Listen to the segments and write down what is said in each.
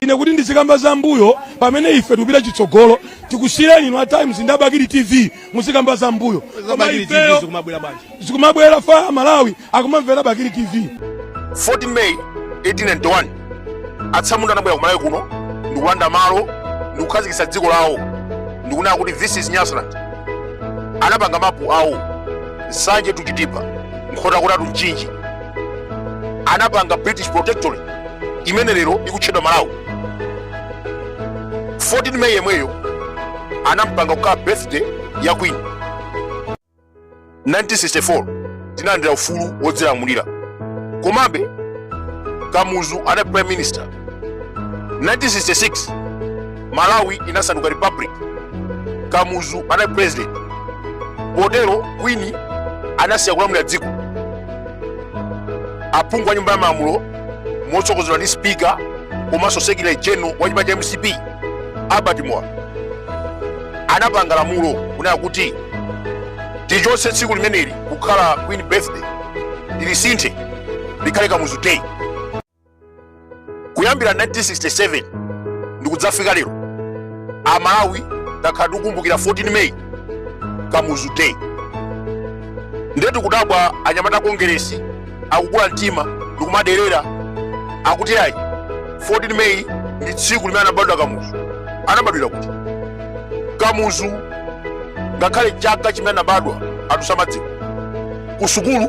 ine kuti ndizikamba za mbuyo pamene ife tikupita chitsogolo tikusiyirani inu a times ndi abakili tv muzikamba za mbuyo koma Bakili TV ifeyo zikumabwera bwanji? zikumabwera ifa a malawi akumamvera bakili tv 14 May 1891 atsamunda anabwera ku Malawi kuno ndikulanda malo ndikukhazikitsa dziko lawo ndikunena kuti this is Nyasaland anapanga mapu awo nsanje to chitipa nkhotakota to mchinji anapanga british protectorate imene lero likutchedwa malawi 14 may yemweyo anampanga kukhala birthday ya queen 1964 tinalandira ufulu wodzilamulira komabe kamuzu anali prime minister 1966 malawi inasanduka republic kamuzu anali president potero kwini anasiya kulamulira dziko aphungu a nyumba ya malamulo motsogozedwa ndi spika komanso secretary general wa chipani cha mcp albert muwalo anapanga lamulo kunena kuti tilichotse tsiku limeneli kukhala queen birthday tilisinthe likhale kamuzu day kuyambira 1967 ndikudzafika lero amalawi takhala tikukumbukira 14 may kamuzu day ndiye tikudabwa anyamata a kongeresi akukula mtima ndikumaderera akuti ayi 14 may ndi tsiku limene anabadwa kamuzu anabadwira kuti kamuzu ngakhale chaka chimene anabadwa anthu samadziwa ku sukulu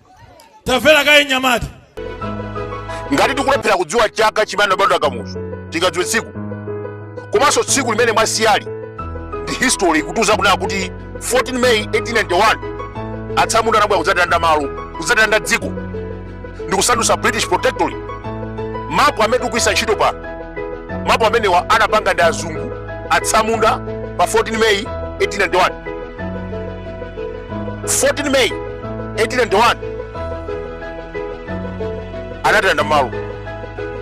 tamvera kaye nyamata ngati tikulephera kudziwa chaka chimene anabadwa kamuzu tingadziwe tsiku komanso tsiku limene mwasiya ndi history ikutiuza kunena kuti 14 may 1891 atsamunda anabwera kudzatilanda malo kudzatilanda dziko ndi kusandutsa british protectorate mapu amene tikugwiritsa ntchito pano mapu amenewa anapanga ndi azungu atsamunda pa 14 may 1891 14 May 1891 anatilanda malo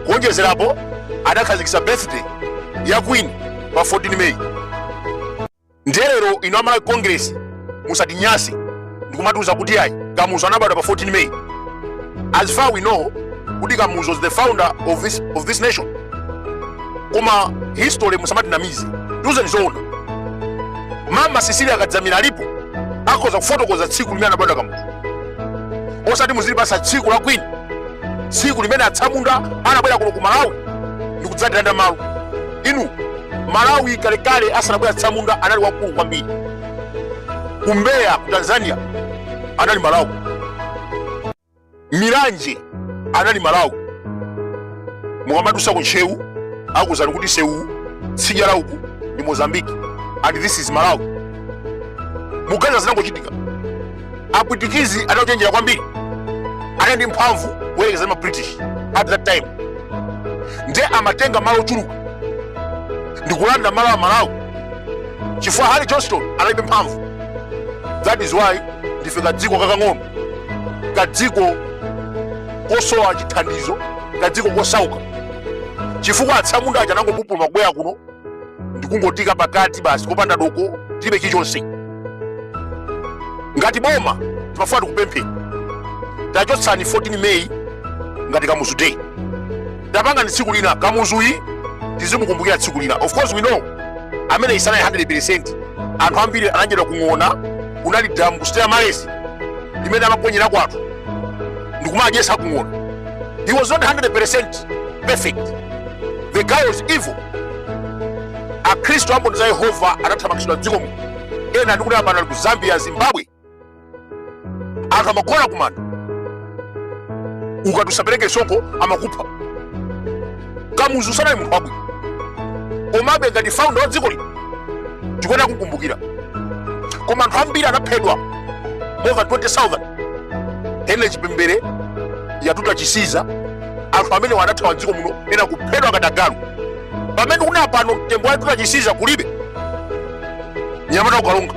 kuonjezerapo anakhazikitsa birthday ya Queen pa 14 May ndiye lero ino a malawi congress musatinyase ndikumatiuza kuti ayi kamuzu anabadwa pa 14 May as far we know kuti kamuzu is the founder of this, of this nation koma history musamatinamize tiuzeni zoona mama sisili kadzamira alipo akhoza kufotokoza tsiku limene anabadwa kamuzu osati muzitipasa tsiku la kwini tsiku limene atsamunda anabwera kuno ku malawi ndikudzatilanda malo inu malawi kalekale asanabwera atsamunda anali wakulu kwambiri ku mbeya ku tanzania anali malawi Milanje anali Malawi. Mukamadusa ku Ntcheu akuuzani kuti sewu tsidya la uku ndi Mozambique and this is Malawi. Muganiza zinangochitika. Apwitikizi anachenjera kwambiri. Anali ndi mphamvu kuyerekeza ndi ma British at that time. Nde amatenga malo ochuluka ndi kulanda malo a Malawi chifukwa Harry Johnston analibe mphamvu. That is why ndife kadziko kakang'ono kadziko kosowa chithandizo kadziko kosauka chifukwa atsamunda aja anangopupuluma kubwera kuno ndikungotiika pakati basi kopanda doko tilibe chilichonse ngati boma timafuna tikupempheni tachotsani 14 meyi ngati kamuzu day tapangani tsiku lina kamuzuyi tizimukumbukira tsiku lina of course we know ameneyi sanali 100 anthu ambiri anaponyedwa kung'ona kunali damu ku stella maris limene amaponyerako anthu ndikumadyesa kung'ona he was not 100 perfect the guy was evil akhristu amboni za yehova anathamangitsidwa mdzikomo ena ndikunena pano ali ku zambia zimbabwe anthu amagona kumanda ukati usapereke msonkho amakupha kamuzu sanali munthu wabwino komabe ngati founder wa dziko lino tikuyenera kumkumbukira koma anthu ambiri anaphedwa more than 20000 henry chipembere yatuta chisiza anthu amenewa anathawa mdziko muno ena kuphedwa ngati agalu pamene ndikunena pano mtembo wa yatuta chisiza kulibe mnyamata wa ku karonga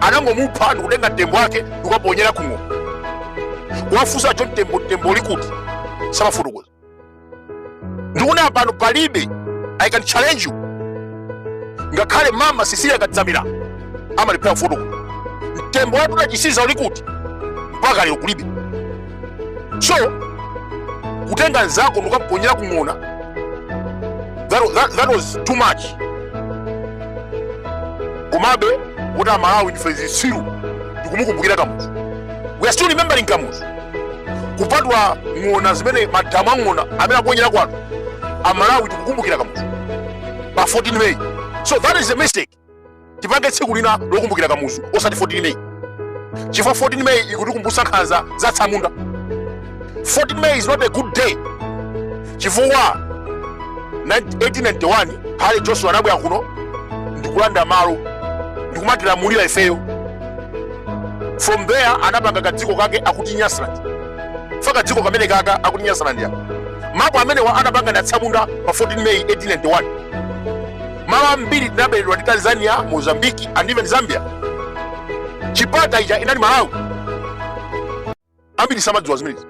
anangomupha ndikutenga mtembo wake ndikukaponyera kung'ona kuwafunsa cho mtembo mtembo uli kuti samafotokoza ndikunena pano palibe i can challenge you ngakhale mama cecilia kadzamira amalephera kufotokoza mtembo wa yatuta chisiza uli kuti mpaka lero kulibe so kutenga nzako ndikukamponyera kung'ona that, that, that was too much komabe poti amalawi ndife zitsiru tikumukumbukira kamuzu we are still remembering kamuzu kupatula ng'ona zimene madamu a ng'ona amene amaponyerako anthu amalawi tikukumbukira kamuzu pa 14 may so that is a mistake tipange tsiku lina lokumbukira kamuzu osati 14 meyi chifukwa 14 meyi ikutikumbutsa nkhanza za tsamunda 14 meyi is not a good day chifukwa 1891 harry johnston anabwera kuno ndikulanda malo ndikumatilamulira ifeyo from there anapanga kadziko kake akuti nyasaland fa kadziko kameneka kakuti nyasaland ya mapu amenewa anapanga ndi atsamunda pa 14 meyi 1891 Malo ambiri tinaberedwa ndi Tanzania, Mozambique and even Zambia. Chipata ija inali Malawi. Ambiri samadziwa zimenezi.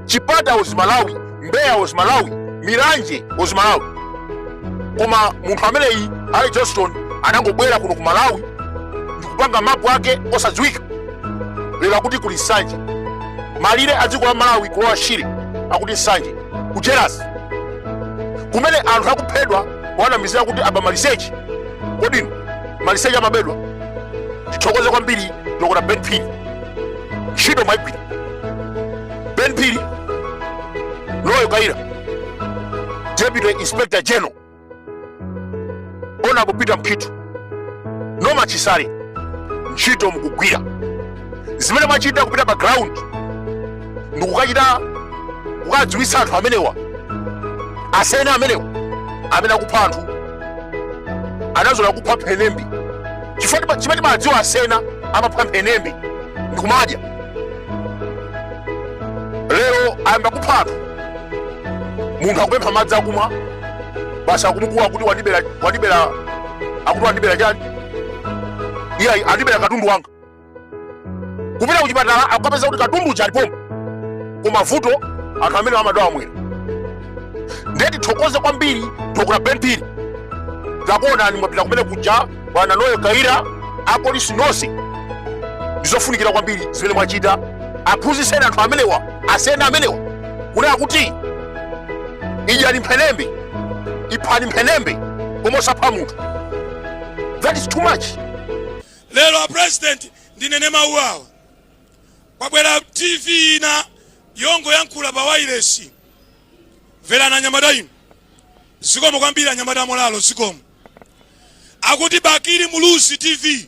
Chipata was Malawi, Mbeya was Malawi, Milanje was Malawi. Koma munthu ameneyi Harry Johnston anangobwera kuno ku Malawi ndikupanga mapu ake osadziwika. Lero akuti kuli Nsanje. Malire a dziko la Malawi kulowa Shire akuti Nsanje. Kujerasi kumene anthu akuphedwa wanamizira kuti aba maliseche kodi inu maliseche amabedwa tithokoze kwambiri dokota ben phiri ntchito mwaigwira ben phiri noel kayira deputy inspector general honorable peter mukhito norman chisale ntchito mukugwira zimene mwachita kupita pa ground ndikukachita kukadziwitsa anthu amenewa asena amenewa amene akupha anthu anazolowera kupha mphenembe chifukwa chimene timadziwa asena amapha mphenembe ndikumadya lero ayamba kupha anthu munthu akupempha madzi akumwa basi akumukuwa kuti wandibera wandibera akuti wandibera chani iye ayi, andibera katundu wanga kupita kuchipatala akukapeza kuti katundu uja alipo koma vuto anthu amenewa amadwala mwera ndiye tithokoze kwambiri dr ben phiri tinakuonani mwapita kumene kuja bwana noel kayira apolisi nonse ndizofunikira kwambiri zimene mwachita aphunzitseni anthu amenewa asena amenewa kunena kuti idyani mphenembe iphani mphenembe koma osapha munthu that is too much lero a president ndinene mawu awa kwabwera tv ina yongoyankhula pa wailesi Mverani anyamata inu. Zikomo kwambiri anyamata amolalo zikomo. Akuti Bakili Muluzi TV.